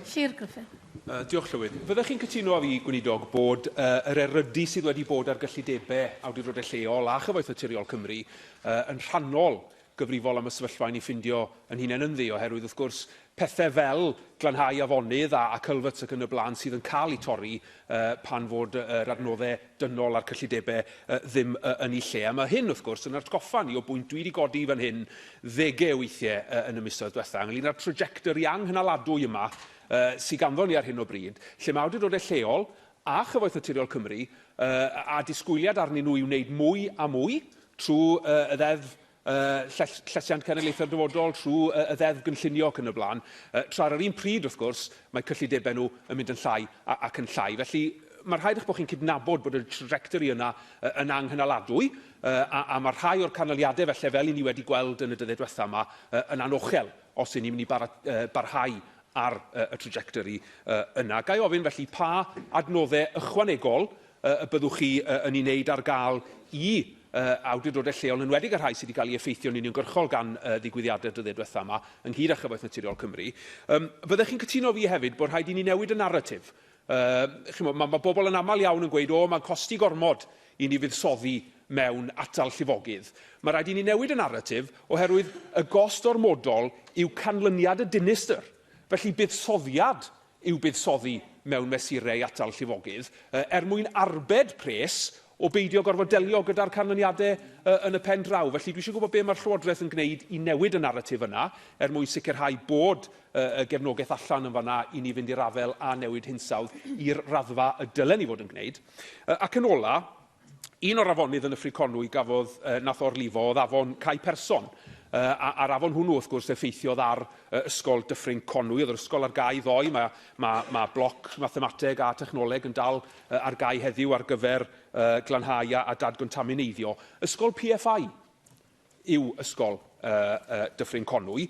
Llyr Gruffydd. Uh, diolch, Llywydd. Fyddech chi'n cytuno â fi, Gweinidog, bod uh, yr erydu sydd wedi bod ar gyllidebau awdurdodau lleol a Chyfoeth Naturiol Cymru uh, yn rhannol gyfrifol am y sefyllfa i ni ffindio yn hunain ynddi, oherwydd, wrth gwrs, pethau fel glanhau afonydd a, a culverts ac yn y blaen sydd yn cael eu torri uh, pan fod yr adnoddau dynol a'r cyllidebau ddim yn eu lle. A mae hyn, wrth gwrs, yn atgoffa ni o bwynt dwi wedi godi fan hyn ddegau o weithiau yn y misoedd diwetha', ynglŷn â'r trajectory anghynaladwy yma sydd ganddo ni ar hyn o bryd, lle mae awdurdodau lleol a Chyfoeth Naturiol Cymru, a disgwyliad arnyn nhw i wneud mwy a mwy trwy y Ddeddf y llesiant cenedlaethau'r dyfodol trwy y Ddeddf Gynllunio ac yn y blaen, tra ar yr un pryd, wrth gwrs, mae cyllidebau nhw yn mynd yn llai ac yn llai. Felly, mae'n rhaid eich bod chi'n cydnabod bod y trajectory yna yn anghynaladwy, a mae rhai o'r canlyniadau, felly, fel i ni wedi gweld yn y dyddiau diwethaf yma, yn anochel os y'n ni'n mynd i barhau ar y trajectory yna. Ga i ofyn, felly, pa adnoddau ychwanegol y byddwch chi yn ei wneud ar gael i awdurdodau lleol, yn enwedig y rhai sydd wedi cael ei effeithio'n uniongyrchol gan ddigwyddiadau'r dyddiau diwethaf yma, ynghyd â Chyfoeth Naturiol Cymru. Fyddech chi'n cytuno fi hefyd bod rhaid i ni newid y naratif? Mae ma bobl yn aml iawn yn gweud, o, mae'n costi gormod i ni fuddsoddi mewn atal llifogydd. Mae rhaid i ni newid y naratif oherwydd y gost ormodol yw canlyniad y dinistr. Felly buddsoddiad i'w buddsoddi mewn mesurau atal llifogydd, er mwyn arbed pres o beidio gorfod delio gyda'r canlyniadau yn y pen draw. Felly, dwi eisiau gwybod be mae'r Llywodraeth yn gwneud i newid y naratif yna, er mwyn sicrhau bod y gefnogaeth allan yn fanna i ni fynd i'r afael â newid hinsawdd i'r raddfa y dylen ni fod yn gwneud. Ac yn ola, Un o'r afonydd yn Nyffryn Conwy gafodd, uh, nath orlifo oedd afon Cae Person. Uh, a, a'r afon hwnnw, wrth gwrs, effeithiodd ar uh, ysgol Dyffryn Conwy. Oedd yr ysgol ar gau ddoe. Mae, mae, mae bloc mathemateg a technoleg yn dal uh, ar gau heddiw ar gyfer uh, glanhau a, a dadgontaminaiddio. Ysgol PFI. yw Ysgol Dyffryn Conwy.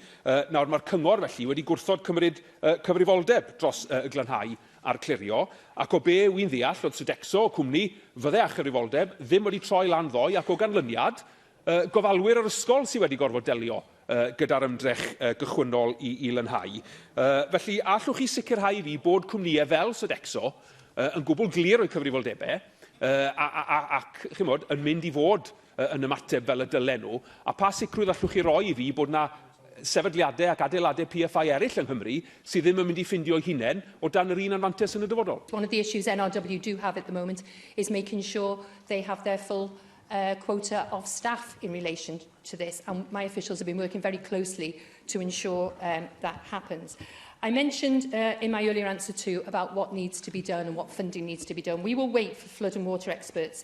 Nawr, mae'r cyngor felly wedi gwrthod cymryd cyfrifoldeb dros y glanhau a'r clirio, ac o be wy'n ddeall oedd Sodexo, y cwmni, fydde â chyfrifoldeb, ddim wedi troi lan ddoe ac o ganlyniad, gofalwyr yr ysgol sydd wedi gorfod delio gyda'r ymdrech gychwynnol i lanhau. Felly, a allwch chi sicrhau i fi bod cwmnïau fel Sodexo yn gwbl glir o'u cyfrifoldebau ac, chimod, yn mynd i fod yn ymateb fel y dylen nhw, a pha sicrwydd allwch chi roi i fi bod yna sefydliadau ac adeiladau PFI eraill yng Nghymru sydd ddim yn mynd i ffindio'u hunain o dan yr un anfantais yn y dyfodol? One of the issues NRW do have at the moment is making sure they have their full uh, quota of staff in relation to this, and my officials have been working very closely to ensure um, that happens. I mentioned uh, in my earlier answer too about what needs to be done and what funding needs to be done. We will wait for flood and water experts